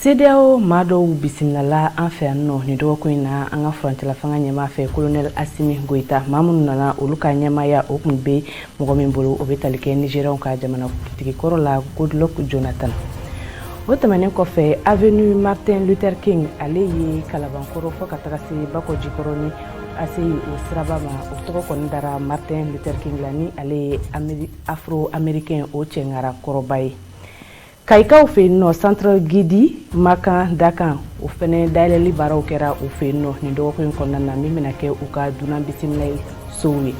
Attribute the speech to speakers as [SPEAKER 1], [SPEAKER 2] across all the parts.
[SPEAKER 1] CEDEAO maa dɔw bisimilala an fɛ yan nɔ nin dɔgɔkun in na an ka furancɛlafanga ɲɛmaa fɛ kolonɛli Asimi Goyita maa minnu nana olu ka ɲɛmaaya o tun bɛ mɔgɔ min bolo o bɛ tali kɛ nizeriyaw ka jamanakuntigi kɔrɔ la goodluck jonathan o tɛmɛnen kɔfɛ avenue martin luther king ale ye kalabankɔrɔ fɔ ka taga se bakɔjikɔrɔ ni ACI o siraba ma o tɔgɔ kɔni dara martin luther king la ni ale ye afro américain o cɛŋara kɔrɔba ye Kayikaw fɛ yen nɔ centre Gidimakan Dakan o fana dayɛlɛli baaraw kɛra u fɛ yen nɔ nin dɔgɔkun in kɔnɔna na min bɛna kɛ u ka dunan bisimilali sow ye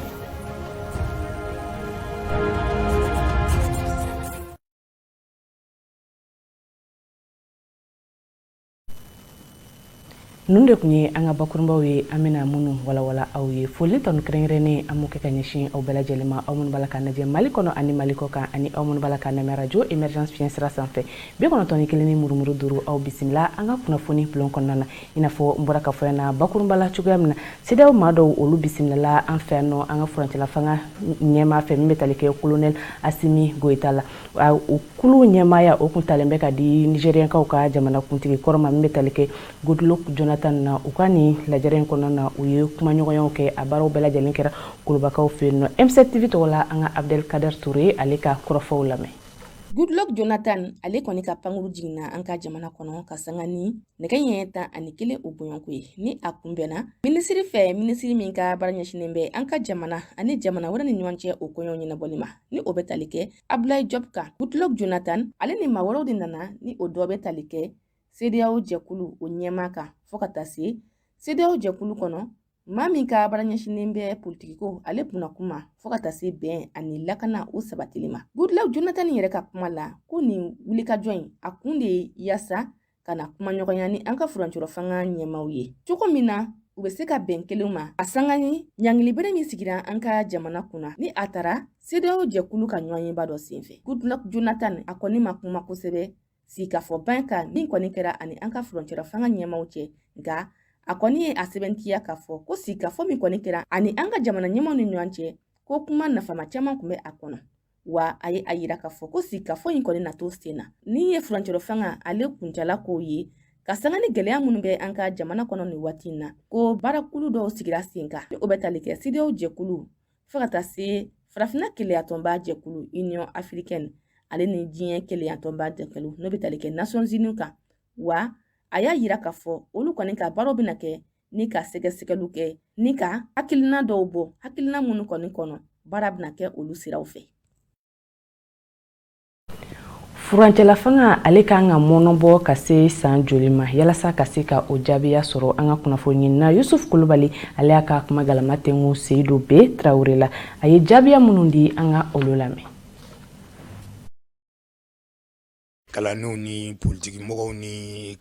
[SPEAKER 1] ninnu de tun ye an ka bakurunbaw ye an bɛna minnu walawala aw ye foli tanu kɛrɛnkɛrɛnnen an b'o kɛ ka ɲɛsin aw bɛɛ lajɛlen ma aw minnu b'a la ka lajɛ mali kɔnɔ ani mali kɔkan ani aw minnu b'a la ka lamɛn rajo emergence fiɲɛ sira sanfɛ bi kɔnɔntɔn kelen ni murumuru duuru aw bisimila an ka kunnafoni bulon kɔnɔna na i n'a fɔ n bɔra ka fɔ na bakurunba la cogoya min na CEDEAO maa dɔw olu bisimilala an fɛ yan nɔ an ka furancɛlafanga ɲɛmaa fɛ min bɛ tali kɛ kolonɛli asimi goyita la o kulu ɲɛmaaya o tun talen bɛ ka di nizeriyakaw ka jamanakuntigi kɔrɔ ma min bɛ tali kɛ goodluck jonathan na u ka nin lajɛrɛ in kɔnɔna na u ye kumaɲɔgɔnyaw kɛ a baaraw bɛɛ lajɛlen kɛra kulubakaw fɛ yen nɔ M7 tv tɔgɔ la an ka abdel kader ture ye ale ka kɔrɔfɔw lamɛn
[SPEAKER 2] goodluck jonathan ale kɔni ka pankuru jiginna an ka jamana kɔnɔ ka sanga ni nɛgɛ ɲɛ tan ani kelen o bɔɲɔgɔnko ye ni a kunbɛnna minisiri fɛ minisiri min ka baara ɲɛsinnen bɛ an ka jamana ani jamana wɛrɛ ni ɲɔgɔn cɛ o koɲɛ ɲɛnabɔli ma ni o bɛ tali kɛ abdulayi jɔb kan goodluck jonathan ale ni maa wɛrɛw de nana ni o dɔ bɛ tali kɛ CEDEAO jɛkulu o ɲɛmaa kan fɔɔ ka taa se CEDEAO jɛkulu kɔnɔ maa min ka baara ɲɛsinnen bɛ politikiko ale kunna kuma fɔɔ ka taa se bɛn ani lakana o sabatili ma goodluck jonathan yɛrɛ ka kuma la ko nin wulikajɔ in a kun de ye yaasa ka na kumaɲɔgɔnya ni an ka furancɛrɔ fanga ɲɛmaaw ye cogo min na u bɛ se ka bɛn kelenw ma a sanga ni ɲangilibere min sigira an ka jamana kunna ni a tara CEDEAO jɛkulu ka ɲɔgɔnyeba dɔ senfɛ goodluck jonathan a kɔni ma kuma kosɛbɛ sigikafɔ ban kan min kɔni kɛra ani an ka furancɛrɔ fanga ɲɛmaaw cɛ nka a kɔni ye a sɛbɛntiya k'a fɔ ko sigikafɔ min kɔni kɛra ani an ka jamana ɲɛmaaw ni ɲɔgɔn cɛ ko kuma nafama caman tun bɛ a kɔnɔ wa a ye a yira k'a fɔ ko sigikafɔ in kɔni na to sen na ni ye furancɛrɔ fanga ale kuncala k'o ye ka sanga ni gwɛlɛya minnu bɛ an ka jamana kɔnɔ nin waati in na ko baarakulu dɔw sigira sen kan o bɛ tali kɛ cedeao jɛkulu fo ka taa se farafinna kelenyatɔnba jɛkulu union africaine ale ni diɲɛ kelenyatɔnba jɛkulu n'o bɛ tali kɛ nations unies kan wa a y'a yira k'a fɔ olu kɔni ka baaraw bɛna kɛ ni ka sɛgɛsɛgɛliw kɛ ni ka hakilina dɔw bɔ hakilina minnu kɔni kɔnɔ baara bɛna kɛ olu siraw
[SPEAKER 1] fɛ furancɛlafanga ale kan ka mɔnɔbɔ ka se san joli ma yalasa ka se ka o jaabiya sɔrɔ an ka kunnafoniɲinina yusuf kulubali ale y'a ka kuma galama tɛnku seyidu be tarawele la a ye jaabiya minnu di an ka olu lamɛn
[SPEAKER 3] kalannenw ni politikimɔgɔw ni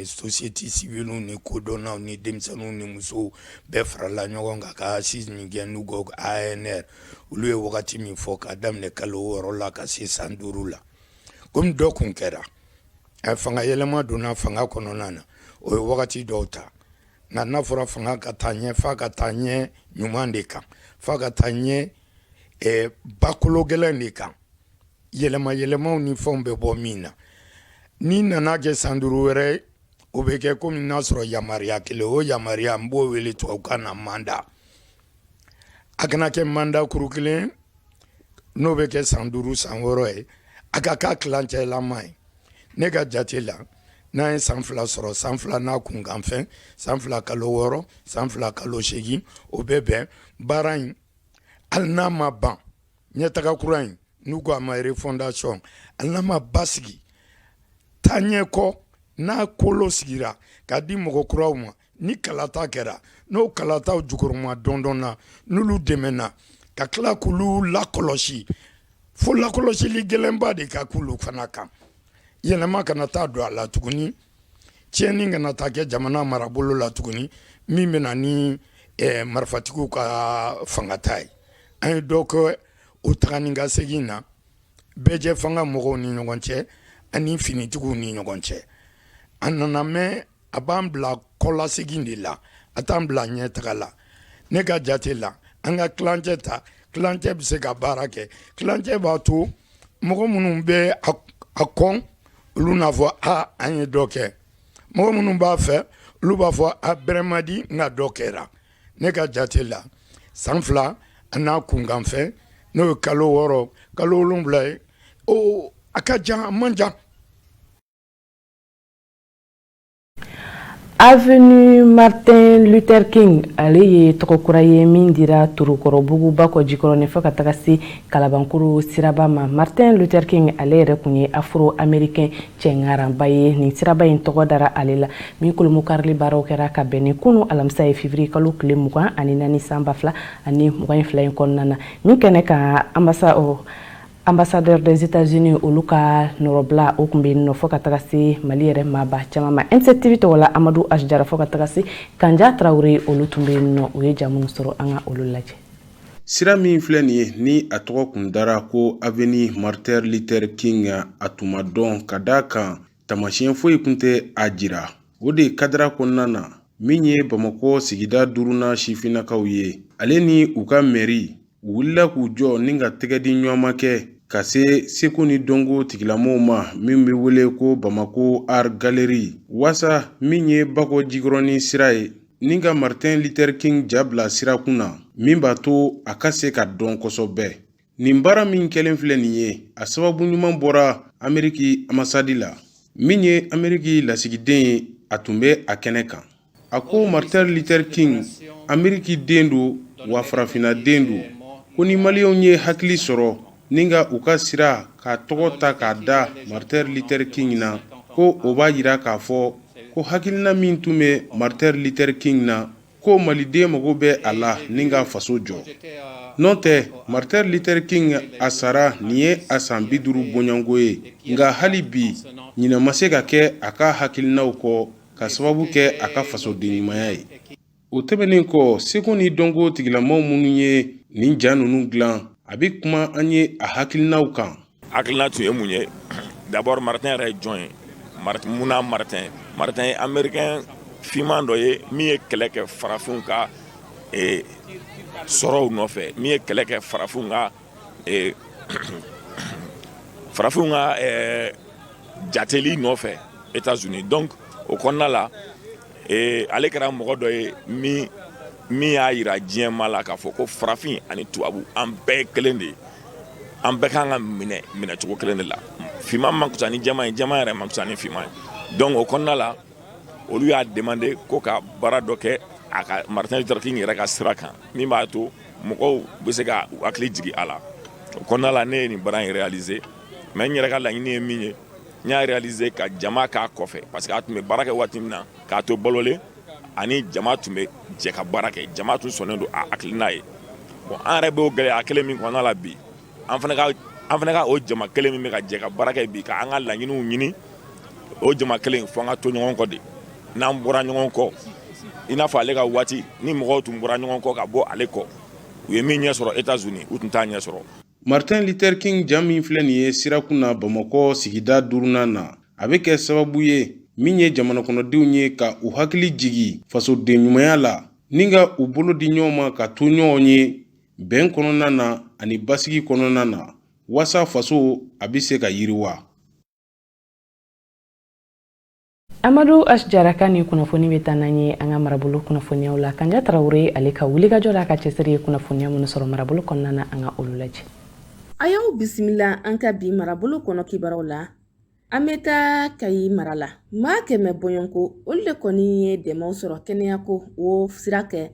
[SPEAKER 3] société civile ni kodɔnnaw ni denmisɛnninw ni musow bɛɛ farala ɲɔgɔn kan ka assises min kɛ n'u ko anr olu ye wagati min fɔ k'a daminɛ kalo wɔɔrɔ la ka se san duuru la kɔmi dɔ tun kɛra a fanga yɛlɛma donna fanga kɔnɔna na o ye wagati dɔw ta nka n'a fɔra fanga ka taa ɲɛ f'a ka taa ɲɛ ɲuman de kan f'a ka taa ɲɛ bakolo gɛlɛn de kan yɛlɛma yɛlɛmaw ni fɛnw bɛ bɔ min na n'i nana kɛ san duuru wɛrɛ o bɛ kɛ komi n'a sɔrɔ yamaruya kelen o yamaruya n b'o wele tubabukan na mandat a kana kɛ mandat kuru kelen n'o bɛ kɛ san duuru san wɔɔrɔ ye a ka k'a tilancɛlama ye ne ka jate la n'an ye san fila sɔrɔ san fila n'a kunkanfɛn san fila kalo wɔɔrɔ san fila kalo seegin o bɛ bɛn baara in hali n'a ma ban ɲɛtaga kura in n'u ko a ma refondation hali n'a ma basigi taa ɲɛ kɔ n'a kolo sigira k'a di mɔgɔ kuraw ma ni kalata kɛra n'o kalataw jukɔrɔmadondonna n'olu dɛmɛna ka tila k'olu lakɔlɔsi fo lakɔlɔsili gɛlɛnba de ka k'olu fana kan yɛlɛma kana taa don a la tuguni tiɲɛni kana taa kɛ jamana marabolo la tuguni min bɛ na ni eh, marifatigiw ka fangata ye an ye dɔ kɛ o taga ni ka segin na bɛɛjɛ fanga mɔgɔw ni ɲɔgɔn cɛ ani finitigiw ni ɲɔgɔn cɛ a nana mɛn a b'an bila kɔlasegin de la a t'an bila ɲɛtaga la ne ka jate la an ka tilancɛ ta tilancɛ bɛ se ka baara kɛ tilancɛ b'a to mɔgɔ minnu bɛ a kɔn olu n'a fɔ aa an ye dɔ kɛ mɔgɔ minnu b'a fɛ olu b'a fɔ a bɛrɛ man di nka dɔ kɛra ne ka jate la san fila a n'a kunkanfɛn n'o ye kalo wɔɔrɔ kalo wolonwula ye a ka jan a man jan
[SPEAKER 1] Avenue Martin Luther King ale ye tɔgɔ kura ye min dira Torokɔrɔbugu Bakɔ Jikɔrɔni fo ka taga se Kalabankoro siraba ma. Martin Luther King ale yɛrɛ kun ye Afro-Américain cɛŋaranba ye. Nin siraba in tɔgɔ dara ale la. Min kurunbonkarili baaraw kɛra ka bɛn ni kunu alamisa ye février kalo tile mugan ani naani san ba fila ani mugan ni fila in kɔnɔna na. Min kɛnɛ kan anbasa Ambassadeur des États-Unis olu ka nɔrɔbila o kun bɛ yen nɔ fo ka taga se Mali yɛrɛ maaba caman ma NCTV tɔgɔ la Amadu H. Jara fo ka taga se Kanja Tarawele olu tun bɛ yen nɔ u ye ja minnu sɔrɔ an ka olu lajɛ. Sira
[SPEAKER 4] min filɛ nin ye ni a tɔgɔ kun dara ko Avenue Martin Luther King a tun ma dɔn ka d'a kan Tamasiɲɛ foyi kun tɛ a jira o de kadira kɔnɔna na min ye bamakɔ sigida duurunan sifinnakaw ye ale ni u ka mairie u wulila k'u jɔ ni ka tɛgɛ di ɲɔgɔnma kɛ ka se seko ni dɔnko tigilamɔgɔw ma min bɛ wele ko Bamako Art Gallery walasa min ye bakɔ jikɔrɔnin sira ye ni ka Martin Luther King ja bila sira kun na min b'a to a ka se ka dɔn kosɛbɛ Nin baara min kɛlen filɛ nin ye a sababu ɲuman bɔra ameriki ambassade la min ye ameriki lasigiden ye a tun bɛ a kɛnɛ kan a ko Martin Luther King amerikiden don wa farafinnaden don ko ni maliyɛnw ye hakili sɔrɔ ni ka u ka sira k'a tɔgɔ ta k'a da Martin Luther King na ko o b'a yira k'a fɔ ko hakilina min tun bɛ Martin Luther King na ko maliden mago bɛ a la ni ka faso jɔ n'o tɛ Martin Luther King a sara nin ye a san bi duuru bɔɲɔgɔnko ye nka hali bi ɲinɛ ma se ka kɛ a ka hakilinaw kɔ ka sababu kɛ a ka fasoden ɲumanya ye o tɛmɛnen kɔ seko ni dɔnko tigilamɔgɔ minnu ye nin ja ninnu dilan a bɛ kuma an ye a hakilinaw kan hakilina tun ye mun
[SPEAKER 5] ye d'abord Martin yɛrɛ ye jɔn ye munna Martin Martin ye américain finman dɔ ye min ye kɛlɛ kɛ farafinw ka eh, sɔrɔw nɔfɛ min ye kɛlɛ kɛ farafinw ka eh, farafinw ka eh, jateli nɔfɛ États-Unis donc o kɔnɔna la eh, ale kɛra mɔgɔ dɔ ye min min y'a yira diɲɛmaa la k'a fɔ ko farafin ani tubabu an bɛɛ kelen de ye An bɛɛ ka kan ka minɛ minɛcogo kelen de la finman man fisa ni jɛman ye jɛman yɛrɛ man fisa ni finman ye donc o kɔnɔna la olu y'a demandé ko ka baara dɔ kɛ a ka Martin Luther King yɛrɛ ka sira kan min b'a to mɔgɔw bɛ se ka hakili jigin a la o kɔnɔna la ne ye nin baara in réaliser mais n yɛrɛ ka laɲini ye min ye n y'a réaliser ka jama k'a kɔfɛ pa parce que a tun bɛ baara kɛ waati min na k'a to balolen ani jama tun bɛ jɛ ka baara kɛ jama tun sɔnnen don a hakilina ye bon an yɛrɛ b'o gɛlɛya kelen min kɔnɔna la bi an fana ka an fana ka o jama kelen min bɛ ka jɛ ka baara kɛ bi ka an ka laɲiniw ɲini o jama kelen fo an ka to ɲɔgɔn kɔ de n'an bɔra ɲɔgɔn kɔ i n'a fɔ ale ka waati ni mɔgɔw tun bɔra ɲɔgɔn kɔ ka bɔ ale kɔ u ye min ɲɛ sɔrɔ Etats-Unis u tun t'a ɲɛ sɔrɔ Martin Luther
[SPEAKER 4] King ja min filɛ nin ye sirakun na Bamakɔ sigida duurunan na a bɛ kɛ sababu ye min ye jamanakɔnɔdenw ye ka u hakili jigi fasoden ɲumanya la ni ka u bolo di ɲɔgɔn ma ka to ɲɔgɔn ye bɛn kɔnɔna na ani basigi kɔnɔna na waasa faso a bɛ se ka yiriwa.
[SPEAKER 1] amadu h jara ka nin kunnafoni bɛ taa n'an ye an ka marabolo kunnafoniyaw la kanja tarawele ale ka wulikajɔ la a ka cɛsiri ye kunnafoniya minnu sɔrɔ marabolo kɔnɔna na an ka olu lajɛ a y'aw
[SPEAKER 2] bisimila an ka bi marabolo kɔnɔ kibaruyaw la an bɛ taa kayi mara la maa kɛmɛ bɔɲɔgɔnko olu de kɔni ye dɛmɛw sɔrɔ kɛnɛyako o sira kɛ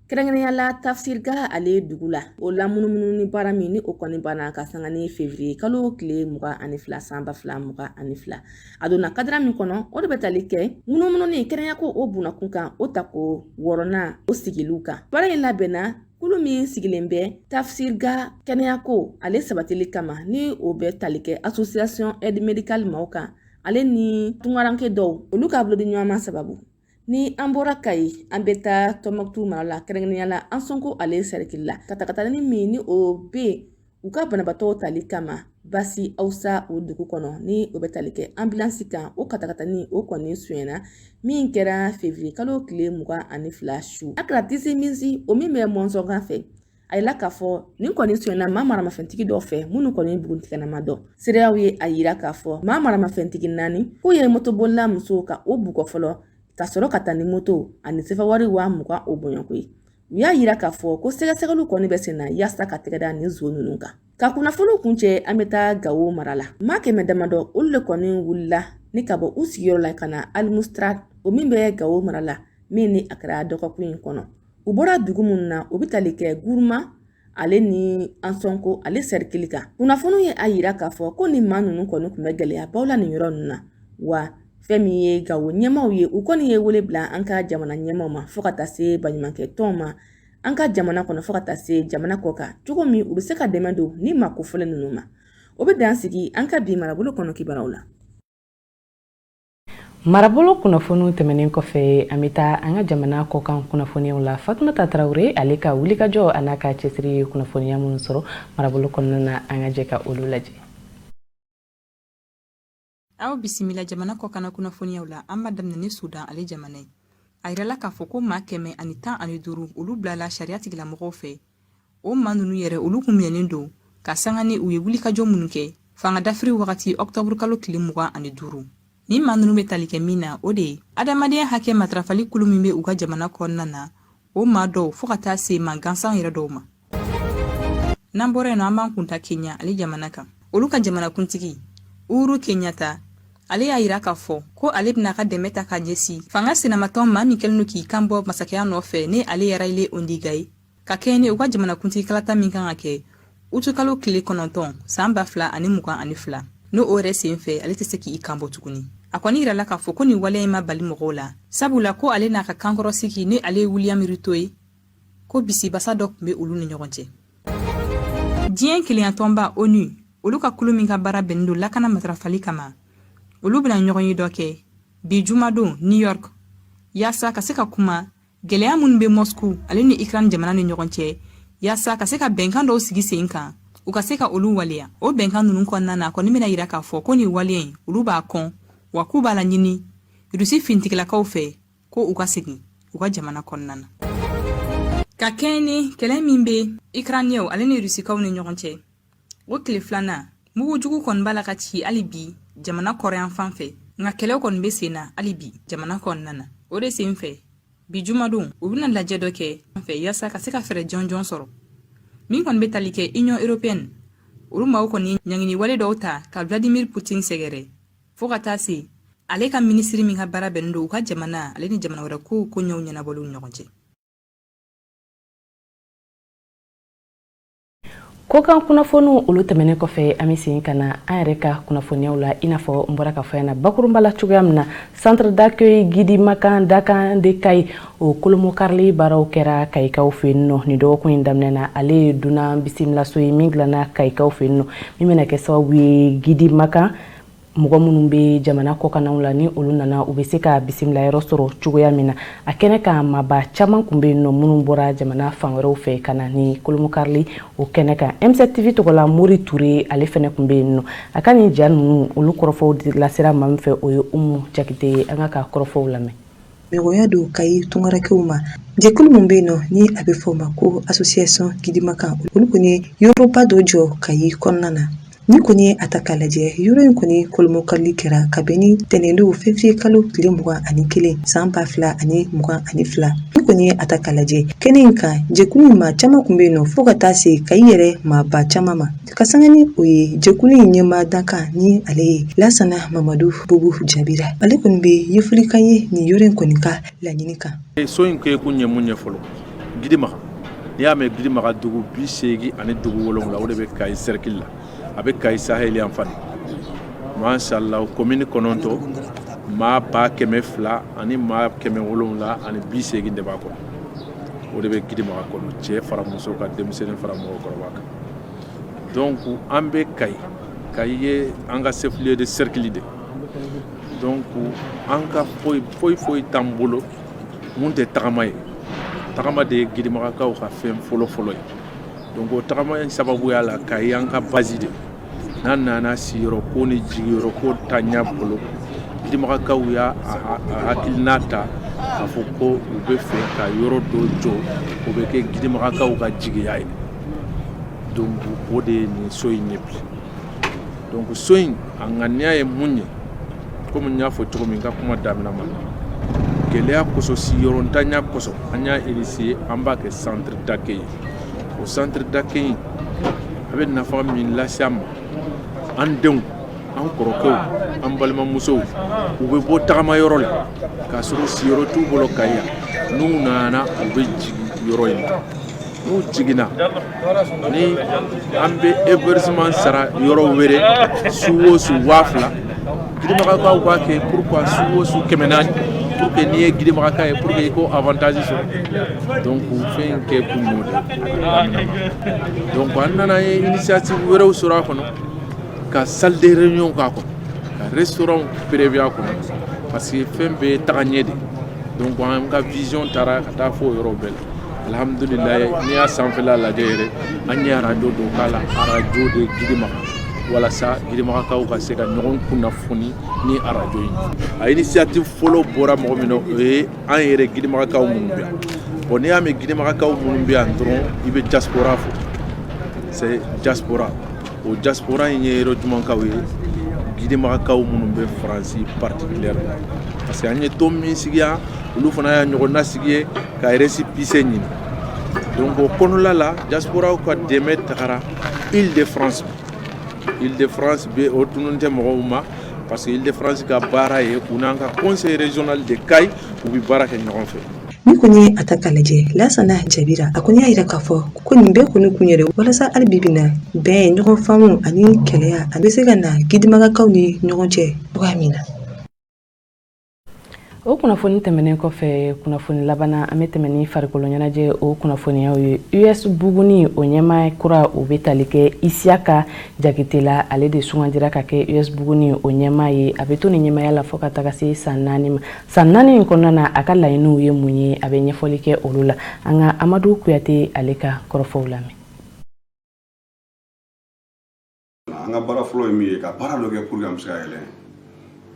[SPEAKER 2] kɛrɛnkɛrɛnya la tafsirga ale dugu la o lamunumununi baara min ni o kɔni banna ka sanga ni fevriye kalo tile mugan ani fila san ba fila mugan ani fila a donna kadira min kɔnɔ o de bɛ tali kɛ munumununi kɛnɛyako o bunakun kan o tako wɔɔrɔnan o sigiliw kan baara in labɛnna kulu min sigilen bɛ tafsirga kɛnɛyako ale sabatili kama ni o bɛ tali kɛ association aide médicale maaw kan ale ni tungaranke dɔw olu ka bolodiɲɔgɔnma sababu ni an bɔra kayi an bɛ taa tɔnbukutu mara la kɛrɛnkɛrɛnya la ansɔnko ale sɛrikili la katakatani min ni o bɛ u ka banabaatɔw tali kama bazi awusa o dugu kɔnɔ ni o bɛ tali kɛ anbilansi kan o katakatani o kɔni sonyɛna min kɛra fevriye kalo tile mugan ani fila su a kɛra tisi minsi o min bɛ mɔnzɔnga fɛ a yira k'a fɔ nin kɔni sonyɛna maa maramafɛntigi dɔw fɛ minnu kɔni buguntigɛna ma dɔn seereyaw ye a yira k'a fɔ maa maramafɛntigi naani k'u ye motobolila muso ka o bugɔ fɔlɔ ka sɔrɔ ka taa ni moto ani sefawari wa mugan o bɔɲɔgɔnko ye u y'a yira k'a fɔ ko sɛgɛsɛgɛliw kɔni bɛ senna yaasa ka tɛgɛ da nin zon ninnu kan ka kunnafoniw kuncɛ an bɛ taa gawo mara la maa kɛmɛ damadɔ olu le kɔni wulila ni ka bɔ u sigiyɔrɔ la ka na alimustarati o min bɛ gawo mara la min ni a kɛra dɔgɔkun in kɔnɔ u bɔra dugu minnu na u bɛ tali kɛ guruma ale ni ansɔnko ale sɛrikili kan kunnafoniw ye a yira k'a fɔ ko nin maa ninnu kɔni tun bɛ gɛlɛyabaw la nin yɔrɔ ninnu na wa fɛn min ye gawo ɲɛmaaw ye u kɔni ye wele bila an ka jamana ɲɛmaaw ma fo ka taa se baɲumankɛtɔnw ma an ka jamana kɔnɔ fo ka taa se jamana kɔkan cogo min u bɛ se ka dɛmɛ don nin maa kofɔlen ninnu ma o bɛ dan sigi an ka bi marabolo kɔnɔ kibaruyaw la
[SPEAKER 1] marabolo kunnafoniw tɛmɛnen kɔfɛ an bɛ taa an ka jamana kɔkan kunnafoniyaw la fatumata tarawele ale ka wulikajɔ a n'a ka cɛsiri ye kunnafoniya minnu sɔrɔ marabolo kɔnɔna na an ka jɛ ka olu lajɛ
[SPEAKER 6] aw bisimila jamana kɔkanna kunnafoniyaw la an b'a daminɛ ni sudan ale jamana ye a yirala k'a fɔ ko maa kɛmɛ ani tan ani duuru olu bilala sariya tigilamɔgɔw fɛ o maa ninnu yɛrɛ olu kun minɛnen don ka sanga ni u ye wulikajɔ minnu kɛ fanga dafiri wagati ɔkutɔburukalo tile mugan ani duuru nin maa ninnu bɛ tali kɛ min na o de ye adamadenya hakɛ matarafali kulu min bɛ u ka jamana kɔnɔna na o maa dɔw fɔɔ ka taa se maa gansan yɛrɛ dɔw ma n'an bɔra yen nɔ an b'an kun da kenya ale jamana kan olu ka jamanakuntigi uhuru kenyatta ale y'a yira k'a fɔ ko ale bɛna ka dɛmɛ ta ka ɲɛsin fanga sinamatɔn maa min kɛlen don k'i kan bɔ masakɛya nɔfɛ ni ale ye raila odinga ye ka kɛɲɛ ni u ka jamanakuntigi kalata min kan ka kɛ utukalo tile kɔnɔntɔn san ba fila ani mugan ani fila n'o o yɛrɛ sen fɛ ale tɛ se k'i kanbɔ tuguni a kɔni yirala k'a fɔ ko nin waleya in ma bali mɔgɔw la sabula ko ale n'a ka kankɔrɔsigi ni ale ye wiliyam ruto ye ko bisibasa dɔ tun bɛ olu ni ɲɔgɔn cɛ diɲɛ kelenyatɔnba onu olu ka kulu min ka baara bɛnnen don lakana matarafali kama olu bɛna ɲɔgɔnye dɔ kɛ bi jumadon new york yaasa ka se ka kuma gɛlɛya minnu bɛ mosku ale ni ukraine jamana ni ɲɔgɔn cɛ yaasa ka se ka bɛnkan dɔw sigi sen kan u ka se ka olu waleya o bɛnkan ninnu kɔnɔna na a kɔni bɛna yira k'a fɔ ko nin waleya in olu b'a kɔn wa k'u b'a laɲini rusi finitigilakaw fɛ ko u ka segin u ka jamana kɔnɔna na ka kɛɲɛ ni kɛlɛ min bɛ ukrainienw ale ni rusikaw ni ɲɔgɔn cɛ o tile filanan mugujugu kɔni b'a la ka ci hali bi jamana kɔrɔn yanfan fɛ nka kɛlɛ kɔni bɛ sen na hali bi jamana kɔnɔna na o de sen fɛ bi jumadon u bɛna lajɛ dɔ kɛ an fɛ yaasa ka se ka fɛɛrɛ jɔnjɔn sɔrɔ min kɔni bɛ tali kɛ union européenne olu maaw kɔni ɲangini wale dɔw ta ka vladimir putin sɛgɛrɛ fɔɔ ka taa se ale ka minisiri min ka baara bɛnnen don u ka jamana ale ni jamana wɛrɛ kow koɲɛw ɲɛnabɔliw ɲɔgɔn cɛ
[SPEAKER 1] kɔkan kunnafoniw olu tɛmɛnen kɔfɛ an bɛ segin ka na an yɛrɛ ka kunnafoniyaw la i n'a fɔ n bɔra k'a fɔ yan na bakurunba la cogoya min na centre d'accueil gidimakan dakan de kayi o kolomokarili baaraw kɛra kayikaw fɛ yen nɔ nin dɔgɔkun in daminɛ na ale ye dunan bisimilaso ye min dilanna kayikaw fɛ yen nɔ min bɛna kɛ sababu ye gidimakan mɔgɔ minnu bɛ jamana kɔkannaw la ni olu nana u bɛ se ka bisimilayɔrɔ sɔrɔ cogoya min na a kɛnɛ kan maaba caman kun bɛ yen nɔ minnu bɔra jamana fan wɛrɛw fɛ ka na ni kolomokarili o kɛnɛ kan m7 tv tɔgɔla mori ture ale fɛnɛ kun bɛ yen nɔ a ka nin ja ninnu olu kɔrɔfɔw lasera maa min fɛ o ye umu jakite ye an k'a ka kɔrɔfɔw lamɛn Mɔgɔya
[SPEAKER 7] don Kayi tungarankɛw ma jɛkulu min bɛ yen nɔ ni a bɛ fɔ o ma ko association Gidimakan olu kɔni ye yɔrɔba dɔ jɔ Kayi kɔnɔna na n'i kɔni ye a ta ka lajɛ yɔrɔ in kɔni kurunbonkarili kɛra kabini ntɛnɛndon février kalo tile mugan ani kelen san ba fila ani mugan ani fila n'i kɔni ye a ta ka lajɛ kɛnɛ in kan jɛkulu in maa caman tun bɛ yen nɔ fo ka taa se Kayi yɛrɛ maaba caman ma Ka sanga ni o ye jɛkulu in ɲɛmaa dankan ni ale ye Lasana Mamadu Bubu Jabira ale kɔni bɛ ɲɛfɔli k'an ye nin yɔrɔ in kɔni ka laɲini kan so in kɛ kun ye
[SPEAKER 8] mun ye fɔlɔ Gidimaga n'i y'a mɛn Gidimaga dugu bi seegin ani dugu wolonwula o de bɛ Kayi sɛriki la a bɛ Kayi saheli yanfan masala komini kɔnɔntɔn maa ba kɛmɛ fila ani maa kɛmɛ wolonwula ani bi segin de b'a kɔnɔ o de bɛ Gidimaga kɔnɔ cɛ fara muso kan denmisɛnnin fara mɔgɔkɔrɔba kan donc an bɛ Kayi Kayi ye an ka chef lieu de cercle de ye donc an ka foyi foyi foyi t'an bolo min tɛ tagama ye tagama de ye Gidimagakaw ka fɛn fɔlɔ fɔlɔ ye donc o tagama in sababuya la Kayi y'an ka base de ye n'an nana siyɔrɔ ko ni jigiyɔrɔ ko t'an bolo Gidimagakaw y'a hakilina ta k'a fɔ ko u b'a fɛ ka yɔrɔ dɔ jɔ o bɛ kɛ Gidimagakaw ka jigiya ye donc o de ye nin so in ye bi donc so in a ŋaniya ye mun ye komi n y'a fɔ cogo min n ka kuma daminɛ ma gɛlɛya kosɔn siyɔrɔntanya kosɔn an y'a initier an b'a kɛ centre d'accueil ye o centre d'accueil in a bɛ nafa min lase an ma an denw an kɔrɔkɛw an balimamusow u bɛ bɔ tagamayɔrɔ la k'a sɔrɔ u siyɔrɔ t'u bolo Kayi yan n'u nana u bɛ jigin yɔrɔ in na n'u jiginna ni an bɛ hébergement sara yɔrɔ wɛrɛ su o su waa fila Gidimagakaw b'a kɛ pourquoi su o su kɛmɛ naani pour que n'i ye Gidimagaka ye pour que i k'o avantage sɔrɔ donc fɛn in kɛ kun y'o de ye donc an nana ye initiative wɛrɛw sɔrɔ a kɔnɔ ka salle de réunion k'a kɔnɔ ka restaurant prévu a kɔnɔ parce que fɛn bɛɛ ye tagaɲɛ de ye donc an ka vision taara ka taa fɔ o yɔrɔ bɛɛ la Alihamdulila n'i y'a sanfɛla lajɛ yɛrɛ an ye arajo dɔ k'a la arajo de Gidimaga walasa Gidimagakaw ka se ka ɲɔgɔn kunnafoni ni arajo ye a initiative fɔlɔ bɔra mɔgɔ min na o ye an yɛrɛ Gidimagakaw minnu bɛ yan bon n'i y'a mɛn Gidimagakaw minnu bɛ yan dɔrɔn i bɛ diaspora fɔ c'est diaspora o diaspora in ye yɔrɔ jumɛnkaw ye Gidimagakaw minnu bɛ Faransi particulièrement parce que an ye tɔn min sigi yan olu fana y'a ɲɔgɔnna sigi yen ka récépissé ɲini donc o kɔnɔla la diasporaw ka dɛmɛ tagara ile de france ile de france bɛ o tunun tɛ mɔgɔw ma parce que ile de france ka baara ye u n'an ka conseil régional de kayi u bi baara kɛ ɲɔgɔn fɛ n'i kɔni y'a
[SPEAKER 7] ta k'a lajɛ lasana jabira a kɔni y'a yira k'a fɔ ko nin bɛɛ kɔni kun yɛrɛ walasa hali bi bi na bɛn ɲɔgɔn faamu ani kelenya a bɛ se ka na gidimagakaw ni ɲɔgɔn cɛ cogoya min na
[SPEAKER 1] o kunnafoni tɛmɛnen kɔfɛ kunnafoni laban na an bɛ tɛmɛn ni farikolo ɲɛnajɛ o kunnafoniyaw ye us buguni o ɲɛmaa kura o bɛ tali kɛ isiyaka jakite la ale de sugandira ka kɛ us buguni o ɲɛmaa ye a bɛ to ni ɲɛmaaya la fɔ ka taga se san naani ma san naani in kɔnɔna na a ka laɲiniw ye mun ye a bɛ ɲɛfɔli kɛ olu la an ka amadu kuyate ale ka kɔrɔfɔw lamɛn
[SPEAKER 9] an ka baara fɔlɔ ye min ye ka baara dɔ kɛ pour que an bɛ se ka yɛlɛ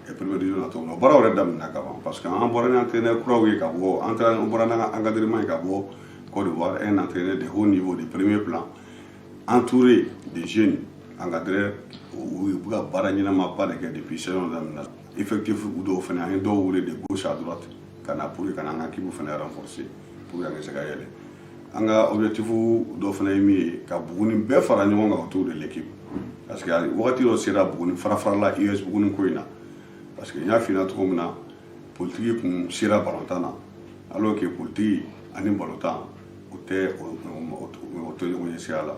[SPEAKER 9] e première division na cogo min na baara yɛrɛ daminɛna ka ban parce que an bɔra ni entraîneur kuraw ye ka bɔ an taara an bɔra n'an ka encadrement ye ka bɔ Côte d'Ivoire un entraîneur de haut niveau de premier plan entouré de jeunes encadreurs u bɛ ka baara ɲɛnamaba de kɛ depuis saison daminɛna effectif dɔw fana an ye dɔw wele de gauche à droite ka na pour que ka na an ka équipe fana renforcer pour que an ka se ka yɛlɛ an ka objectif dɔ fana ye min ye ka buguni bɛɛ fara ɲɔgɔn kan autour de l'équipe parce que wagati dɔ sera buguni fara-farala US buguni ko in na parce que n y'a f'i ɲɛna cogo min na politiki kun sera balontan na alors que politiki ani balontan o tɛ o tɛ ɲɔgɔn ye sira la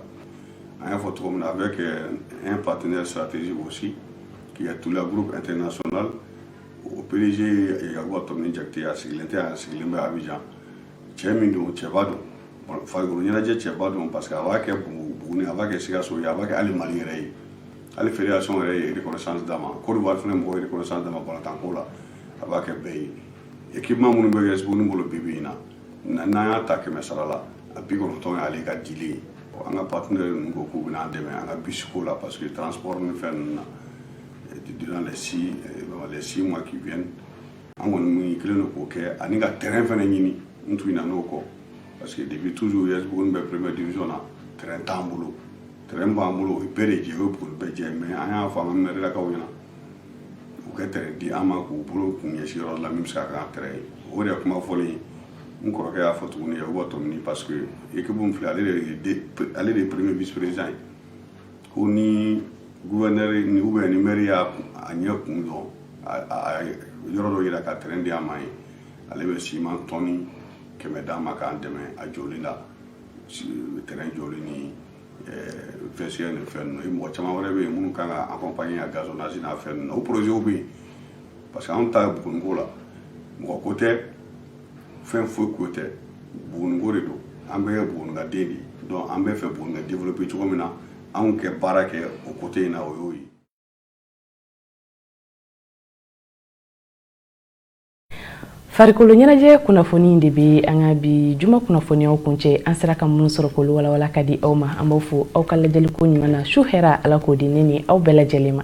[SPEAKER 9] an y'a fɔ cogo min na avec euh, un partenaire stratégique aussi qui est tout le groupe international o PDG Yakuba Tomini Jakite a sigilen tɛ a sigilen bɛ Abidjan cɛ min don cɛba don farikolo ɲɛnajɛ cɛba don parce que a b'a kɛ buguni a b'a kɛ sikaso ye a b'a kɛ hali mali yɛrɛ ye hali fédération yɛrɛ ye reconnaissance d'a ma Côte d'Ivoire fana mɔgɔw ye reconnaissance d'a ma balontan ko la a b'a kɛ bɛɛ ye équipement minnu bɛ kɛ buguni bolo bi bi in na n'an y'a ta kɛmɛ sara la a bikɔnɔntɔn y'ale ka dilen ye an ka partenaire ninnu ko k'u bɛna an dɛmɛ an ka bisi ko la parce que transport ni fɛn ninnu na durant les six les six mois qui viennent an kɔni mun kelen don k'o kɛ ani ka terrain fana ɲini n tun na n'o kɔ parce que depuis toujours US buguni bɛ première division na terrain t'an bolo terrain b'an bolo o ye bɛɛ de jɛ o ye buguni bɛɛ jɛ mais an y'a fɔ an ka mɛrilakaw ɲɛna u ka terrain di an ma k'u bolo kun ɲɛsin yɔrɔ la min bɛ se ka kɛ an terrain ye o de ye kuma fɔlen ye n kɔrɔkɛ y'a fɔ tuguni yakuba tɔmini parce que équipe min filɛ ale de ye ale de ye premier vice président ye ko ni guvɛnɛri ni ou bien ni mɛri y'a a ɲɛ kun dɔn a yɔrɔ dɔ yira ka tɛrɛn di an ma ye ale bɛ siman tɔni kɛmɛ d'an ma k'an dɛmɛ a jɔli la tɛrɛn jɔli ni vestiaire ni fɛn ninnu mɔgɔ caman wɛrɛ bɛ yen minnu kan ka accompagner a gazonnage n'a fɛn ninnu o projet bɛ yen parce que anw ta ye buguniko la mɔgɔ ko tɛ fɛn foyi ko tɛ buguniko de don an bɛɛ ye bugunikaden de ye donc an b'a fɛ buguni ka développer cogo min na anw ka baara kɛ o côté in na o y'o ye
[SPEAKER 1] farikolo ɲɛnajɛ kunnafoni de bɛ an ka bi juma kunnafoniyaw kuncɛ an sera ka minnu sɔrɔ k'olu walawala ka di aw ma an b'aw fo aw ka lajɛliko ɲuman na su hɛrɛ ala k'o di ne ni aw bɛɛ lajɛlen ma